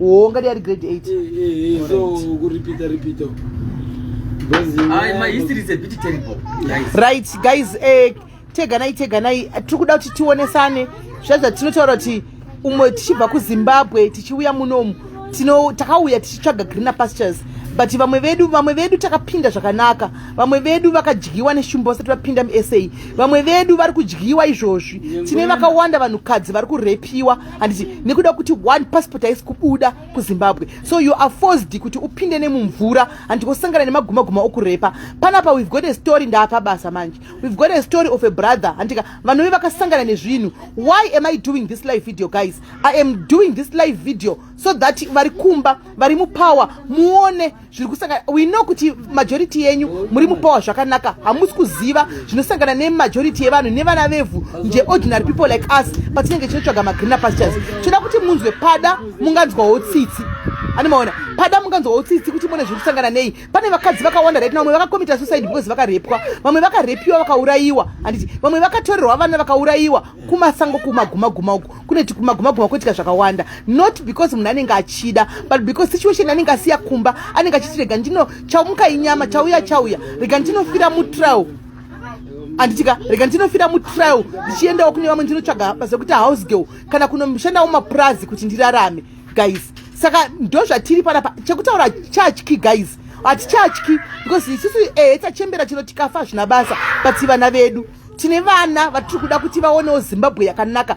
Oh, ngati ari grade 8. Eh, eh, eh, so ku repeat repeat. Ai, my history is a bit terrible. Guys. Right, guys, eh teganai teganai tiri kuda kuti tionesane zvazva tinotaura kuti umwe tichibva kuzimbabwe tichiuya munomu tino takauya tichitsvaga greener pastures but vamwe vedu vamwe vedu takapinda zvakanaka vamwe vedu vakadyiwa neshumba vasati vapinda musa vamwe vedu vari kudyiwa izvozvi tine vakawanda vanhukadzi vari kurepiwa handiti nekuda kuti one passport haisi kubuda kuzimbabwe so you are forced kuti upinde nemumvura handiti wosangana nemagumaguma okurepa panapa we've got a story ndaapa basa manje we've got a story of a brother handika vanove vakasangana nezvinhu why am i doing this live video guys i am doing this live video so that vari kumba vari mupower muone zviri kusangana we know kuti majority yenyu muri mupower zvakanaka hamusi kuziva zvinosangana nemajority yevanhu nevana vevhu nje ordinary people like us patinenge tinotsvaga magreener pastures tinoda kuti munzwe pada munganzwawo tsitsi ani maona pada munganzwawo tsitsi kuti mune zviri kusangana nei pane vakadzi vakawanda right vamwe vakakomita suicide because vakarepwa vamwe vakarepiwa vakaurayiwa handiti vamwe vakatorerwa vana vakaurayiwa kumasango kumagumaguma uku kune kumagumaguma kuitika zvakawanda not because munhu anenge achida but because situation anenge asiya kumba anenge achiti rega ndino chaumuka inyama chauya chauya rega ndinofira mutrial anditika rega ndinofira mutrial ndichiendawo kune vamwe ndinotsvaga basa rekuti house girl kana kunoshandawo mapurazi kuti ndirarame guys saka ndo zvatiri panapa chekutaura chachki guys hatichatyi because isusu ehe eh, tachembera chino tikafa hazvina basa but vana vedu tine vana vatiri kuda kuti vaonewo zimbabwe yakanaka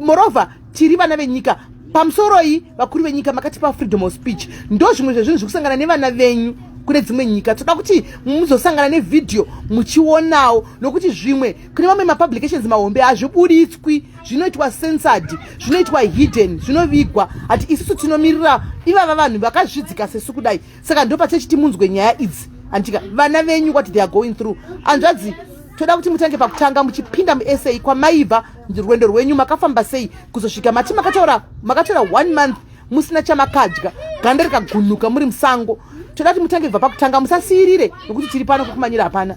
morova tiri vana venyika pamusoro iyi vakuru venyika makatipa freedom of speech ndo zvimwe zvezvinhu zviri kusangana nevana venyu kune dzimwe nyika toda kuti muzosangana nevhidhiyo muchionawo nokuti zvimwe kune mamwe mapublications mahombe hazvibuditswi zvinoitwa sensad zvinoitwa hidden zvinovigwa hati isusu tinomirira ivava vanhu vakazvidzika sesu kudai saka ndopatechiti munzwe nyaya idzi anditika vana venyu what they are going through anzvadzi toda kuti mutange pakutanga muchipinda musa kwamaibva rwendo rwenyu makafamba sei kuzosvika mati makataura makataura one month musina chamakadya ganda rikagunuka muri musango toda kuti mutange bva pakutanga musasiirire nokuti tiri pano kukumanyira hapana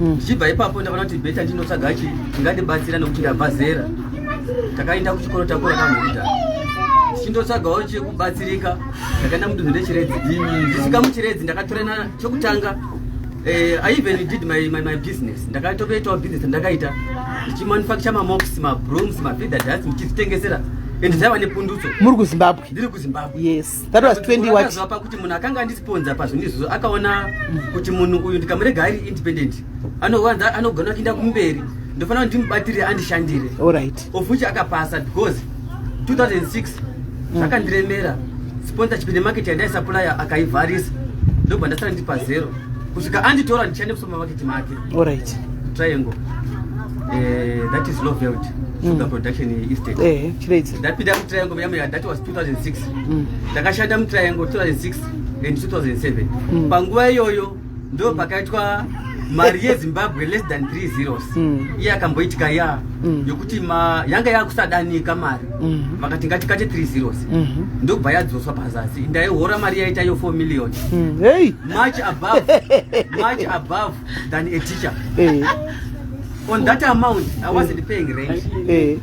mm. ndichibva mm. ipapo ndakaona kuti beta ndinotsvaga chi ingandibatsira nokuti ndabva zera takaenda kuchikoro takura kamhuda chindotsvagawo chekubatsirika ndakaenda mudunhu rechiredzi ndisvika muchiredzi ndakatorana chokutanga eh, i even did my, my, my business ndakatokuitawo business ndakaita ndichimanufacture mamox mabrooms mafeeder dust ndichizvitengesera and zaiva nepundutso muri kuzimbabwe ndiri kuzimbabwe yes That was 20 what? Zvapa kuti munhu akanga andisponza pazvinhu izvozvo akaona kuti munhu uyu ndikamurega ari independent anowanza anogona kuinda kumberi ndofanira kuti ndimubatirire andishandire alright of which akapasa because 2006 zvakandiremera sponsorship nemarket yandaisapulaya akaivharisa ndobva ndasara ndi pazero kusvika anditora ndichande musupermarket make alright triangle uh, that is lovelt mm. sugar production estate eh, chiraidzo ndapinda mutriangle yamuyadhat was 2006 mm. ndakashanda mutriangle 2006 and 2007 mm. panguva iyoyo ndo pakaitwa mari yezimbabwe less than 3 zeros mm. iye akamboitika ya mm. yokuti ma yanga yakusadanika mari mm. vakati ngatikate 3 zeros mm -hmm. ndobva yadzoswa pazasi ndaihora mari yaita yo 4 million mm. hey. much above much above than a teacher hey. on that amount i wasn't paying rent hey. Hey.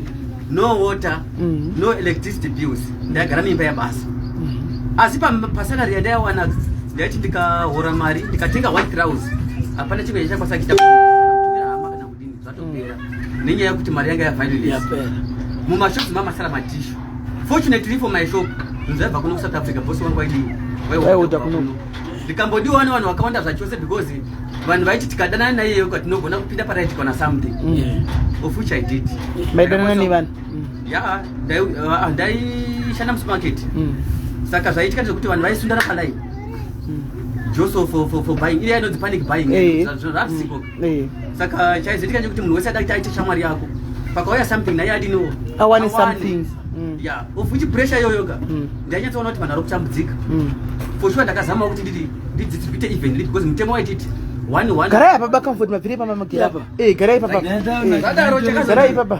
no water mm. no electricity bills ndaigara mimba yabasa mm. asi pasalary yandaiwana ndaiti ndikahora mari ndikatenga one crowns hapana chimwe chakwanisa kuita hama kana kudini zvatopera mm. nenyaya yekuti mari yanga yavailes mumashops mamasara matishu fortunately for my shop nzaiva kuno kusouth africa bosi wangu waidi waiuta kuno ndikambodiwa wani vanhu vakawanda zvachose because vanhu vaiti tikadanana naiyeyo ka tinogona kupinda paraiti kana something mm. of which i did maidanana nevanhu ya ah, ndaishanda musumarket mm. saka zvaitika ndezvekuti vanhu vaisundana palai mm. joseph for buying iye inonzi panic buying eh. zvarisiko Eh. Saka chaizoitika ndechekuti munhu wese ada kuti aite shamwari yako. Pakauya something naye adiniwo. Awane something. Mm. Yeah. Of which pressure yoyo ka. Mm. Ndanyatsoona kuti vanhu vari kutambudzika. Mm. For sure ndakazama kuti nditi ndidzitsi kuite even because mutemo waititi one one. Garai apa bakamfoti mabvire pamamagera apa. Eh, garai papa. Garai papa.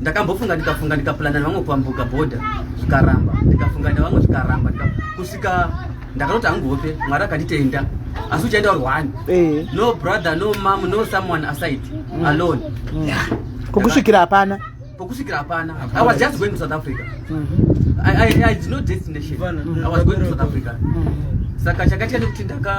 ndakambofunga ndikafunga ndikapulana nevamwe kuambuka bhodha zvikaramba ndikafunga nevamwe zvikaramba kusvika ndakatoti hangu hope mwari akanditenda asi uchaenda uri one eh. no brother no mam no someone aside mm. alone mm. pokusvikira hapana pokusvikira hapana i was just going to south africa saka chakaitika nekuti ndaka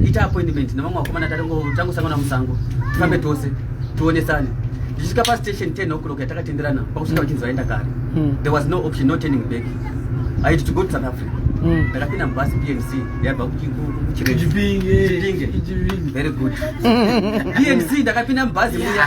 ita appointment nevamwe vakomana tatangosangana musango tifambe tose tionesane ndichisvika pastation 10 o'clock yatakatenderana pakusvika vachinzi vaenda kare hmm. there was no option no turning back aiti to go to south africa hmm. ndakapinda mubhasi pnc yaibva kuchipinge very good pnc ndakapinda mubhazi muya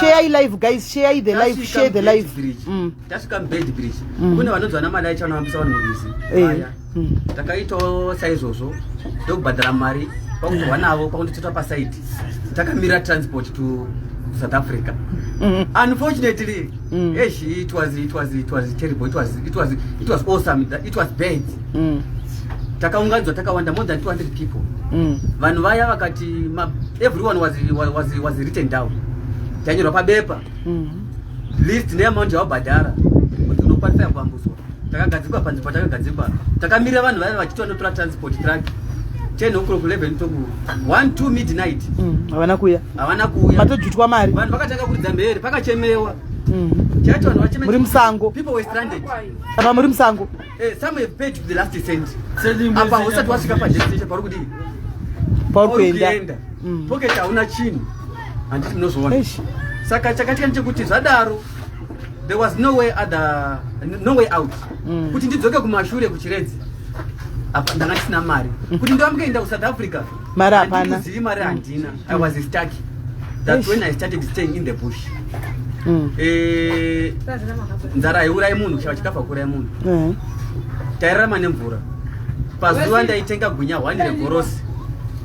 share live guys share the live share the live mm. tasvika mbed bridge mm. kune vanonzwa namadai chanovambisa vanhu murizi eh. aya mm. takaitawo saizvozvo ndokubhadhara mari pakutorwa navo pakunditotwa pasaidi takamira transport to south africa unfortunately esh it was it was it was terrible it was it was it was awesome it was bad mm. takaunganidzwa takawanda more than 200 people mm. vanhu vaya vakati everyone was, was, was written down tanyorwa pabepa mm. list neamount yawabhadhara kuti unokwanisa yambambuswa takagadzikwa panzi patakagadzikwa takamirira vanhu vaya vachiti vanotora transport track 10 o'clock 11 toku 1 2 midnight mm, havana kuya havana kuya patojutwa mari vanhu vakatanga kuridza mhere pakachemewa mm. chacho vanhu vachememuri musango people were stranded apa muri musango Eh, some have paid the last cent. Apa hosati wasvika pa destination pauri kudii? Pauri kuenda. Mm. Pocket hauna chinhu. Handiti munozoona. Saka chakatika ndechekuti zvadaro there was no way other no way out. Mm. Kuti ndidzoke kumashure kuchiredzi. Apa ndanga ndisina mari. Kuti ndovamboenda ku South Africa. mari hapana zivi mari handina i was stuck that's when i started staying in the bush mm. eh, nzara haiurai munhu kushava chikafa kuurai munhu mm. tairarama nemvura pazuva ndaitenga gunya hwani regorosi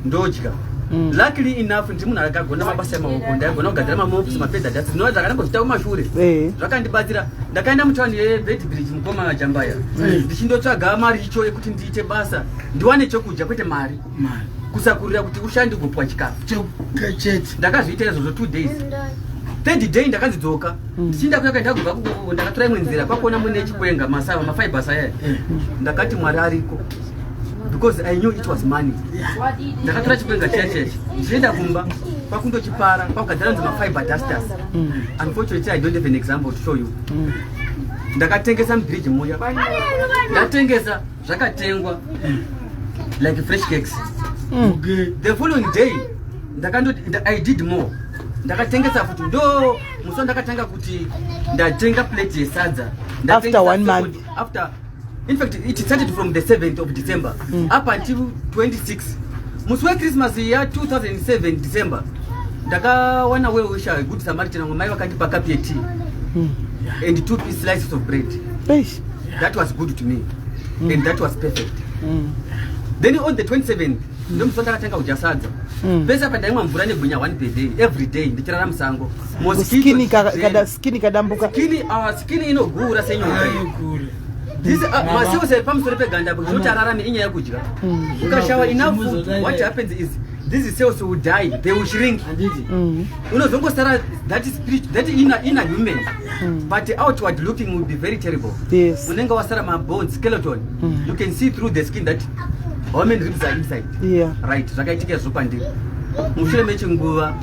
ndodya Mm. luckily enough ndi munhu akagona mabasa emaoko ndaigona kugadzira mamops mapedza dats no zvakanamboita kumashure eh. zvakandibatsira ndakaenda mutawani yevedbridge mukoma majambaya mm. ndichindotsvaga mari icho yekuti ndiite basa ndiwane chokudya kwete mari kusakurira kuti ushande ugopwa chikafu chete ndakazviita izvozvo two days third day ndakanzi dzoka hmm. ndichinda kuya kandagova kukoko ndakatora imwe nzira kwakuona mune chikwenga masava mafibers aya hmm. ndakati mwari ariko because i knew it was money ndakatora chikwenga chiya cheche ndichienda kumba kwakundochipara kwakugadzira nzi mafiber dusters hmm. unfortunately i don't have an example to show you ndakatengesa mubridge muya ndatengesa zvakatengwa like fresh cakes mm. the following day ndakandoti i did more ndakatengesa futi ndo muso ndakatanga kuti ndatenga plate yesadza after one month after in fact it started from the 7th of december mm. up until 26 musi wechristmas ya 2007 december ndakawana weusha good samaritan vamwe mai vakandipa kapi yetea mm. and two piece slices of bread Eish. that was good to me mm. and that was perfect mm. then on the 27 ndomusi ndakatanga kudya sadza mm. pese apa ndaimwa mvura negwinya one per day every day ndichirara musango skini kadambuka skini uh, inogura senyoka uh, maseos epamusoro peganda zvekuti ararame inyaya yekudya mm. ukashawa enough food what happens is these cells will die they will shrink mm. unozongosara that spirit that inner, inner human Mm. But outward looking will be very terrible. Yes. Unenge wasara mabone skeleton. Mm. You can see through the skin that how many ribs are inside. Yeah. Right. Zvakaitika izvo pandiri. Mushure mechinguva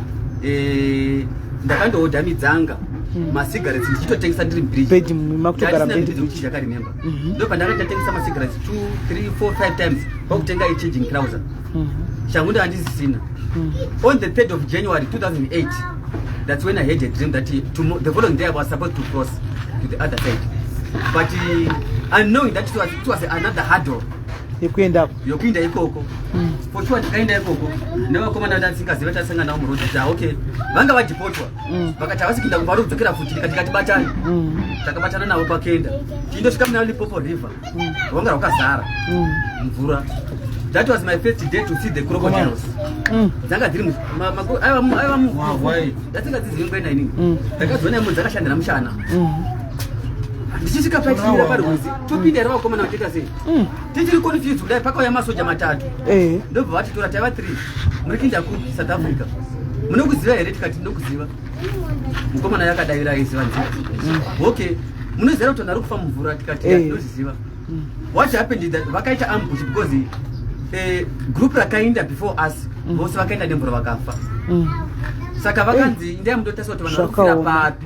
eh ndakandoodha midzanga. Mm. Masigarettes ndichitotengesa ndiri mbiriji. Bed makutogara bed. Ndisina kuti ndakaremember. Mm-hmm. Ndipo pandakatengesa masigarettes 2 3 4 5 times. Kwakutenga i changing trouser. mm -hmm. shangu ndo andizisina mm -hmm. on the 3rd of january 2008 that's when i had a dream that he, to, the following day i was supposed to cross to the other side but uh, unknowing that it was, it was another hurdle yekuendako yokuinda ikoko mm. for sure tikaenda ikoko nevakomana ndasingaziva tasanga navo muroad kuti ah, okay vanga vadhipotwa mm. vakati havasi kuinda kuvari kudzokera futi ndikati katibatani mm. takabatana navo pakenda tiindosvika muna lipopo river wanga wakazara mvura that was my first day to see the crocodiles mm. dzanga dziri aiva muvhai dzatsinga dzizivingaina inini mm. ndakadziona imwe dzakashandira mushana mm. ndichisvika paitiira parwizi topinda here vakomana vatoita sei tichiri confused kudai pakauya masoja matatu eh. ndobva vatitora taiva three muri kinda ku south africa munokuziva here tikati ndinokuziva mukomana yakadavira aiziva nzi mm. okay munozera kuti vanhu ari kufa mumvura tikati eh. tinozviziva mm. what happened is that vakaita ambush because eh, group rakainda before us mm. vose vakaenda nemvura vakafa saka vakanzi eh. ndai mutotarisa kuti vanhu vari kufira papi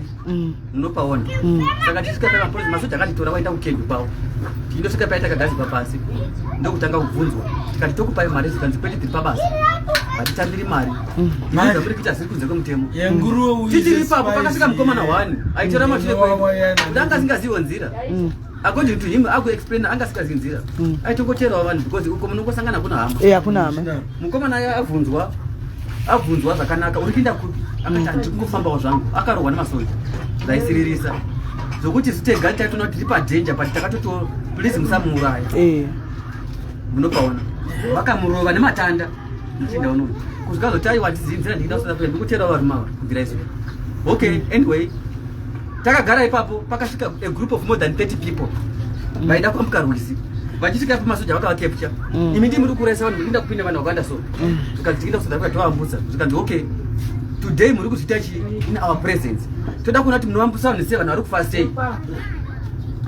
unopaona mm. saka tisvika paya mapolisi masoja akanditora waenda kukembi kwavo tinosvika paya takagadzikwa pasi ndokutanga kubvunzwa tikati tokupai mari zikanzi kwete tiri pabasa hatitambiri mari mm. maiza muri kuita ziri kunze kwemutemo tichiri ipapo pakasvika mukomana one aitora mashure kwedu ndanga asingazivo nzira mm. according to him akuexplaina anga asikazi nzira mm. aitongoteerawo vanhu because uko munongosangana kuna hama e eh, hakuna hama mukomana aye abvunzwa abvunzwa zvakanaka uri kuinda kupi akati handiri kungofambawo zvangu akarohwa nemasoja ndaisiririsa zvokuti zitega taitoona kuti tiri padanger but takatoti please musamuuraya eh. munopaona vakamurova nematanda ndichienda unono kuzvikazotiaiwa ndizinzira ndikida kusada kuenda ndikuteerawo varume ava kubvira izvo okay anyway takagara ipapo pakasvika a group of more than 30 people mm. vaida kwambuka rwizi vachisvika ipapo masoja vakavakepcha mm. imi ndii muri kuraisa vanhu murinda kupinda vanhu vakawanda so mm. zvikanzi tiinda kusada kuda tovambutsa zvikanzi okay today muri kuzviita chii in our presence toda kuona kuti munovambutsa vanhu sei vanhu vari kufa sei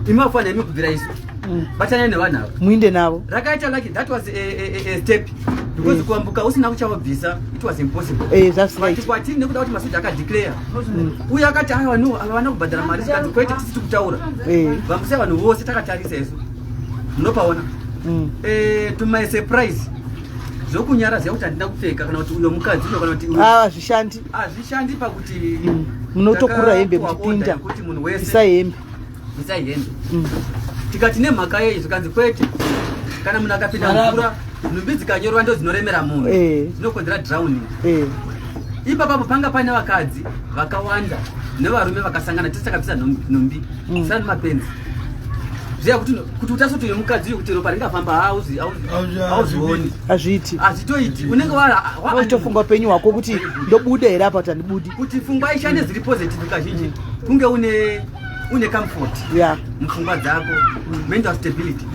imi vafanira imi kubvira isu Mm. Batana nevanhu ava. Muinde navo. Rakaita like that was a, a, a step because kuambuka usina kuchavabvisa it was impossible eh that's right kwati nekuda kuti masoja aka declare mm. uye akati ayo vanhu havana kubhadhara mari sikati kwete tisiti kutaura eh. vambusa vanhu vose takatarisa isu munopaona mm. eh, to my surprise zvokunyara ziya kuti handina kupfeka kana kuti uyo mukadzi uyo kana kuti ah, hazvishandi hazvishandi pakuti mm. munotokura hembe muchipinda kuti munhu wese isa hembe bvisai hembe mm. tikati nemhaka yei zvikanzi kwete kana munhu akapinda mvura nhumbi dzikanyorwa ndo dzinoremera munhu eh. zvinokonzera drowning eh. ipapapo panga paine vakadzi vakawanda nevarume vakasangana tese takabvisa nhumbi mm. sani mapenzi ziva kuti kuti utasoto yemukadzi uyu kuti ropa ringafamba hauzvioni hazviiti hazvitoiti unenge waitofunga upenyu hwako kuti ndobuda here apa kuti handibudi kuti fungwa ishande dziri positive kazhinji kunge une une comfort yeah mfungwa dzako mental stability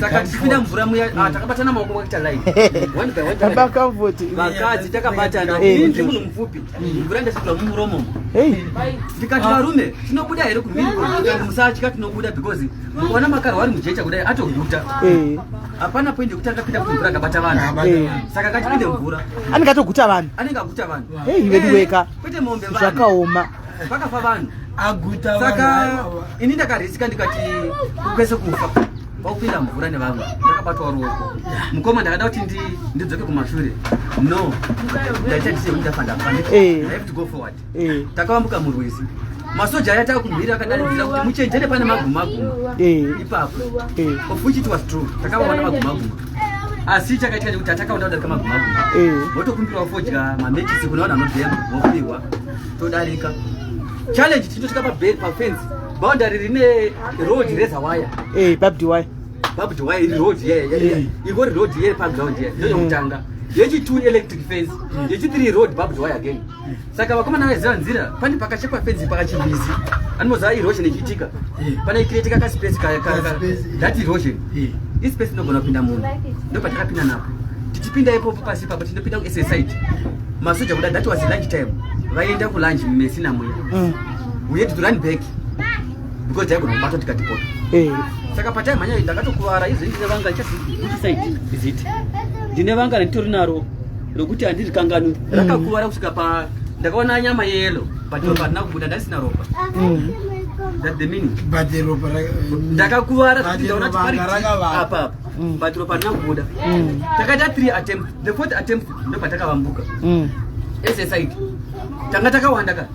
saka tichipinda mvura muya ah, takabatana maoko kwakuita line one by one baba comfort vakadzi takabatana eh. ini ndiri munhu mupfupi mvura ndasvitwa mumuromo ndikati ah. varume tinobuda here kumhiri ah. musatya tinobuda because mukaona makaro wari mujecha kudai atoguta eh. hapana point yekuti akapinda kuti mvura akabata vanhu eh. saka akatipinde mvura anenge atoguta vanhu anenge aguta vanhu veduweka kwete mombe zvakaoma vakafa vanhu aguta saka ini ndakarisika ndikati kwese kufa wakupinda mvura nevamwe ndakabatwa ruoko mukoma ndakada kuti ndidzoke kumashure no ndaita ndiseudafandaagoforward eh. eh. takavambuka murwizi masoja aya taa kumhira akadaidzira kuti muchenjere pane magumaguma eh. ipapo ofuchit was true takavaona magumaguma asi chakaitika chekuti atakaona kudarika magumaguma votokumbirawo eh. fodya mamekisi kune vanhu anodhema vopihwa todarika challenge tinotosvika pabed pafensi boundary rine road reza waya eh, babdi waya babdi waya iri road eh. igori road ye paground ye ndozvekutanga yechitwo electric fence yechithree road babdi waya again saka vakomana vaiziva nzira pane pakachekwa fenzi pakachimbizi anoziva erosion ichiitika pane ikiretika kaspesi that erosion ispesi inogona kupinda munhu ndo patakapinda napo tichipinda ipopo pasi papo tinopinda kussite masoja kuda that was lunch time vaienda kulunch mesina muya mm. we had to run back because taigona kubatwa tikatipota eh. saka pataimhanya ndakatokuvara izvi ndine vanga ichaside is it ndine vanga randitori naro rokuti handiri kanganwi mm. rakakuvara kusvika pa ndakaona nyama yeyelo but ropa rina kubuda ndasina ropa mm. ndakakuvara kuti ndaona tiparitiapapa mm. but ropa rina kubuda takaita three attempt the fourth attempt ndopatakavambuka ese side tanga takawanda ka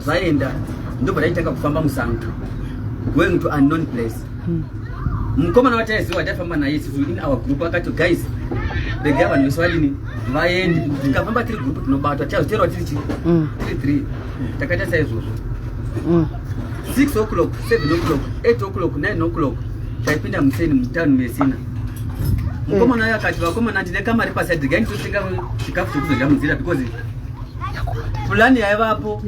Zvaenda ndobva taitanga kufamba musango going to unknown place. Hmm. Mukomana wataiziwa taifamba naye isusu in our group akati guys regai vanhu vese vadini vaende tikafamba tiri group tinobatwa tichazoterwa tiri chii hmm. tiri three takaita saizvozvo hmm. six o'clock seven o'clock eight o'clock nine o'clock taipinda museni mutown mesina mukomana uyo akati vakomana ndine kamari paside regai nditotenga chikafu chekuzodya munzira because Fulani yaivapo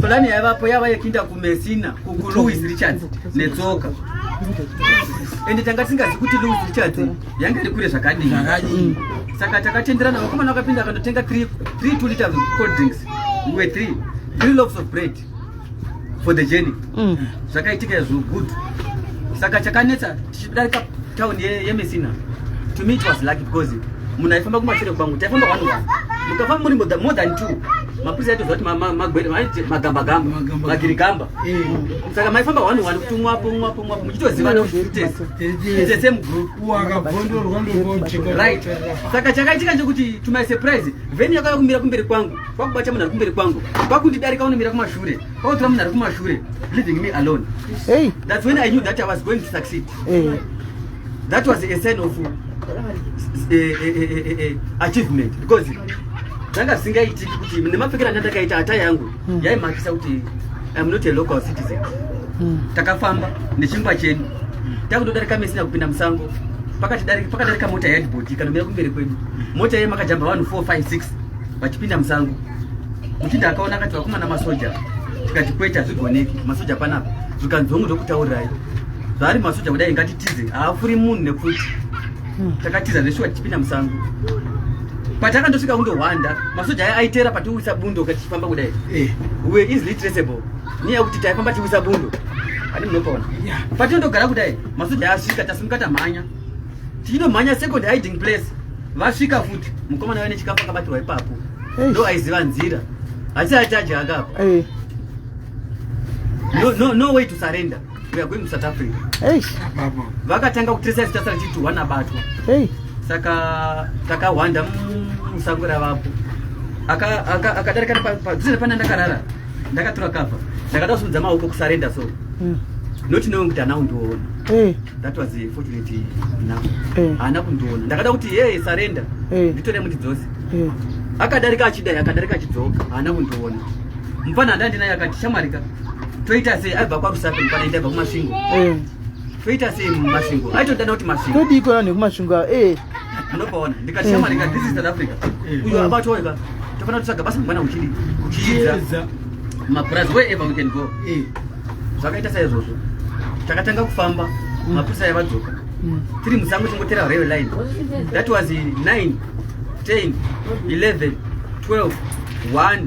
fulani yaivapo yava yekinda kumesina kulouis richards netsoka ende tanga tisingazi kuti louis richards yanga iri kure zvakadii mm. saka takatenderana vakomana vakapinda akandotenga 3 t liter cold drinks we 3 3 loves of bread for the journey mm. zvakaitika izvo good saka chakanetsa tichidarika town yemesina to me it was lucky because munhu aifamba kumashure kwangu taifamba one one mukafamba muri more than two mapurisa aitoziva kuti magwere maiti magambagamba magirigamba eh. saka maifamba one one kuti umwapo umwapo umwapo muchitozivana kutitese same group right saka chakaitika chekuti to my surprise vheni yakauya kumira kumberi kwangu kwakubata munhu ari kumberi kwangu kwakundidarika unomira kumashure kwakutora munhu ari kumashure leaving me alone hey. that's when i knew that i was going to succeed hey. that was a sign of uh, uh, uh, achievement because zvanga zvisingaitiki kuti nemapfekera anga ndakaita hata yangu hmm. yaimakisa kuti iam not a local citizen hmm. takafamba nechingwa chedu takutodarika mesina kupinda musango pakati pakadarika mota yaedbodi kanomira kumberi kwedu mota yeye makajamba vanhu 456 vachipinda musango muchinda akaona akati vakomana masoja tikati kwete hazvigoneki masoja panapa zvikanzi hongu zvokutaurirai zvaari masoja kudai ngatitize haafuri munhu nepfuti hmm. takatiza zveshuwa tichipinda musango patakandosvika kundohwanda masoja aya aitera patiwisa bundo kachifamba kudai eh. we easily traceable nyaya yekuti taifamba tiwisa bundo ati munopaona patinondogara kudai masoja asvika tasimuka tamhanya tinomhanya second hiding place vasvika futi mukomana wene chikafu akabatirwa ipapo ndo aiziva nzira asi achaji akapo no, no, no way to surrender we are going to south africa vakatanga kutresa zitasa richiti one abatwa saka takahwanda musango ravapo akadarika padhuze nepane ndakarara ndakatura kava ndakada kusimudza maoko kusarenda so mm. not knowing kuti anawo ndiona eh. that was fortunate now eh. haana kundiona ndakada kuti ye sarenda eh. nditore mundidzose akadarika achidai akadarika achidzoka haana kundiona mupana handa ndinaye akati shamwarika toita sei aibva kwarusape mupana ndaibva kumasvingo toita sei mumasvingo aitodana kuti masvingo todii kona nekumasvingo munopaona ndikachema ndika this is south africa uyo abatoeka tofanira kutsvaga basa mangwana uchidi uchiedza mapurazi wherever we can go eh. zvakaita saizvozvo takatanga kufamba mm. mapurisa aya vadzoka mm. tiri musango tingotera rail line that was 9 10 11 12 1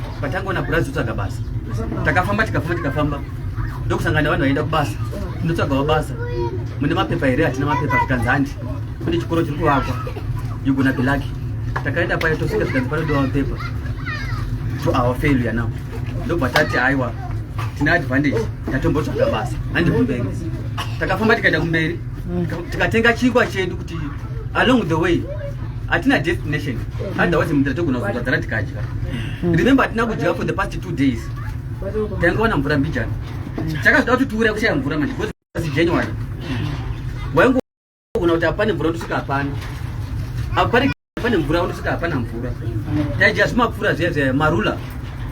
patangoona purazi totsvaga basa takafamba tikafamba tikafamba ndokusangana vanhu vaienda kubasa tinotsvagawo basa mune mapepa here hatina mapepa zvikanzi handi kune chikoro chiri kuvakwa yugona bilaki takaenda paye tosvika zvikanzi panodowa mapepa to our failure now ndobva tati aiwa tine advantage tatombotsvaga basa handi kumberi takafamba tikaenda kumberi tikatenga chingwa chedu kuti along the way hatina destination otherwise mvura togona kuzogadzara tikadya hmm. remember hatina kudya for the past two days taingawana mvura mbijana chakazoda kuti tiuraya kushaya mvura manje bcause january waingogona kuti hapane mvura ndosvika hapana apari pane mvura unosvika hapana mvura taidya zvimapfuura zviya zviya marula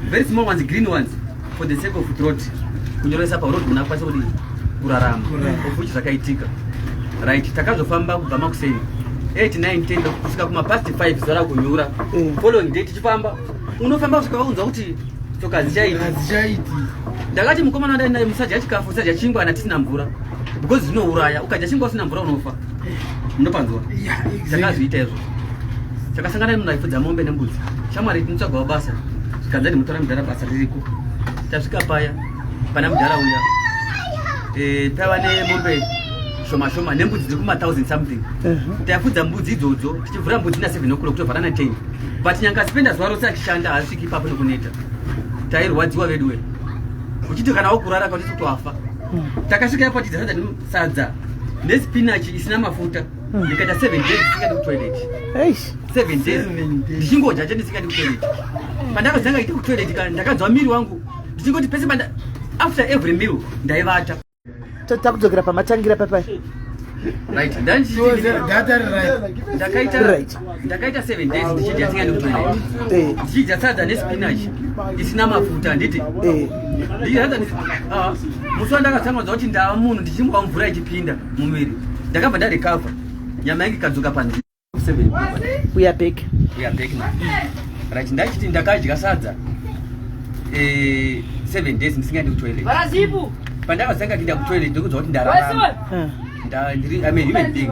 Very small ones, green ones for the sake of throat. Kunyoresa pa road muna kwasa kuti kurarama. Of which zvakaitika. Right, takazofamba kubva makuseni. 8 9 10 kusvika kuma past 5 zara kunyura. Mm. Following day tichifamba. Unofamba kusvika vaunza kuti tsoka hadzichaiti hadzichaiti ndakati mukomana wandai naye musadya chikafu usadya chingwa ana tisina mvura because zvinouraya ukadya chingwa usina mvura unofa munopanzwa chakazviita izvo chakasangana nemunhu aipfudza mombe nembudzi shamwari tinotsvagawo basa zvikanza ndimutora mudhara basa ririko tasvika paya pana mudhara uya eh, tava nemombe shoma shoma nembudzi dziri kumathousand something mhm. taifudza mbudzi idzodzo tichivhura mbudzi na seven o'clock tovhara na ten but nyanga sipenda zuva rose achishanda haasviki ipapo nekuneta tairwadziwa veduwe uchiti kana wakurara kauti toafa hmm. takasvika ipo tidzaa sadza nespinach isina mafuta hmm. ndikaita seven days ndisingadi kutoilet seven days ndichingodya che ndisingadi kutoilet pandakazanga iti kutoilet kana ndakanzwa miri wangu ndichingoti pese panda after every meal ndaivata totida kudzokera pamatangira papai right ndandakaita right ndakaita 7 days ndichidya tsinga nekutoira eh. ndichidya sadza nespinach isina mafuta handiti eh. ah, musi wandakatsangadza kuti ndava munhu ndichimwa mvura ichipinda mumwiri ndakabva ndarecover nyama yange ikadzoka panzi uyabek uyabek na right ndachiti ndakadya sadza 7 eh, days ndisingadi kutoilet pandakazanga kuinda kutoilet ndikudzwa kuti ndararama ah. ndiri i mean human being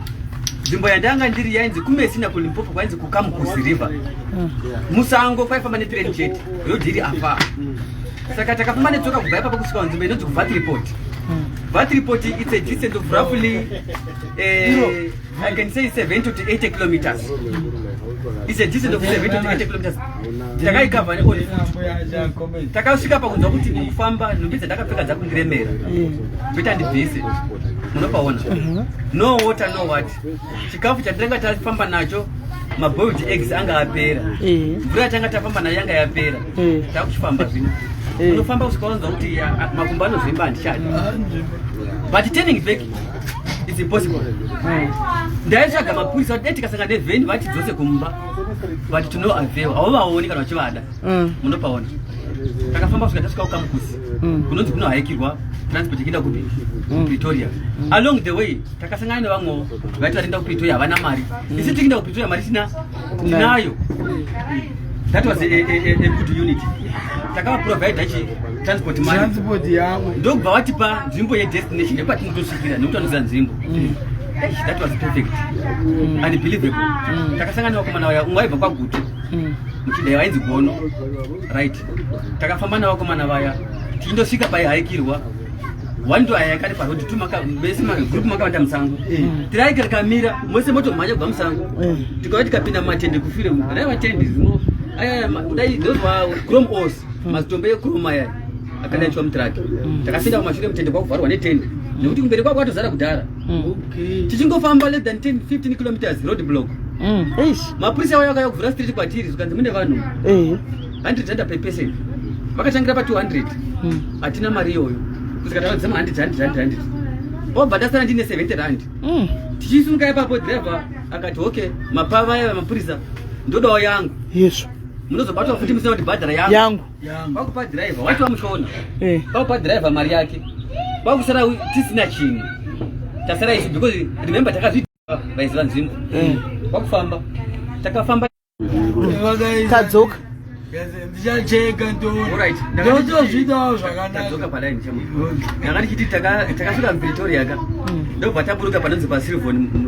nzvimbo yandanga ndiri yainzi kumesina kulimpopo kwainzi kukamukusi river mm. musango kwaifamba netrain chete rodhi iri afa mm. saka takafamba netsoka kubva ipapa kusvika panzvimbo inonzi kuvat report mm. vat report its a distance of roughly uh, i can say 7 to 8 kilometers its a distance of 7 to 8 kilometers takaikavha neoli takasvika pakunzwa kuti ndikufamba nhumbi dzandakapfeka dzakundiremera kuita mm. ndibvise munopaona mhm. no water no what chikafu chatanga tafamba nacho maboiled eggs anga apera mm. mvura yatanga tafamba nayo yanga yapera mm. takuchifamba zvino unofamba kusvika wanzwa kuti makumbo anozvimba handichadi but turning back it's impossible ndaitsvaga mapurisa dai tikasanga nevheni vatidzose kumba but tinovavewa hauvaoni kana vachivada mm. munopaona takafamba kusvika tasvika kukamukusi mm. kunonzi kuno haikirwa transport ichienda kupi mm. pretoria along the way takasangana nevamwewo vaiti vatienda kupretoria havana mari isi tikienda kupretoria mari tina tinayo that was a, a, a, a good unity takavaprovider chi transport money transport yavo ndokubva vatipa nzvimbo yedestination yekwatinotosvikira nekuti vanoziva nzvimbo mm. that was perfect mm. unbelievable mm. takasangana vakomana vaya umwe aibva kwagutu mm. muchidai vainzi gono right takafamba navakomana vaya tiindosvika paihaikirwa one to ayaka ari parodi tu maka mese magroup makavanda musango eh. tiraika rikamira mose moto mhanya kubva musango eh. tikauya tikapinda mumatende kufire raivatende zino ayaya kudai those were chrome os mm. mazitombo ekuroma aya akanaitwa mutraki mm. takapinda kumashure mutende kwakuvharwa netende nekuti kumberi kwako atozara kudhara mm. tichingofamba less than 10 15 kilometers road block mm. mapurisa vaya vakaya kuvhura street kwatiri zvikanzi mune vanhu 100 eh. randa per person vakatangira pa 200 mm. hatina mari iyoyo kusvika tava dzema 100 100 100 100 obva ndasara ndine 70 rand mm. tichisunga ipapo driver akati okay mapava aya mapurisa ndodawo yangu yesvo munozobatwa futi musina kuti bhadhara yangu kwakupa dhiraivha wati wamushona eh. kwakupa dhiraivha mari yake kwakusara tisina chinhu tasara isu because remember takazvidiwa vaiziva nzvimbo eh. kwakufamba takafamba tadzoka ndichacheka ndotozvidawo zvakanakadzoka padaini chamo ndanga ndichiti takasvika mupretoria ka hmm. ndobva taburuka panonzi pasilvon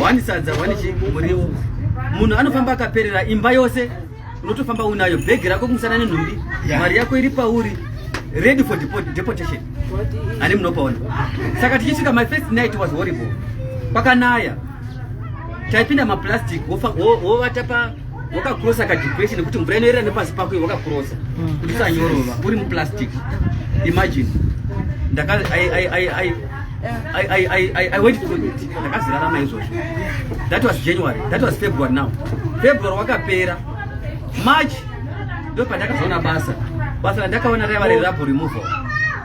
wani sadza wani muriwo munhu anofamba akaperera imba yose unotofamba unayo bhegi rako kumusana nenhumbi mari yako iri pauri ready for deportation ani munopaona saka tichisvika my first night was horrible pakanaya taipinda maplastic wovata pa wakakrosa kadepression nekuti mvura inoyerera nepasi pako iyo wakakrosa hmm. kuti usanyorova uri muplastic imagine ndaka I, I, I, I, I went to toilet ndakazirarama izvozvo that was january that was february now february wakapera march ndo pandakazoona basa basa randakaona raiva riri rapo removal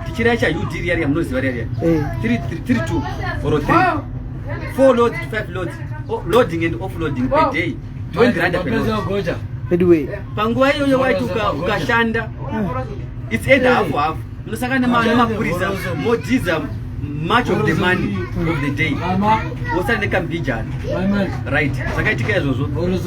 tichiraya cha ud riya riya munoziva riya riya eh. tiri two or three four loads to five loads loading and offloading per day twenty rand per load panguva iyoyo waiti ukashanda it's either half half Munosaka nemapurisa modhiza much of the money of the day wosara nekambijana right zvakaitika izvozvo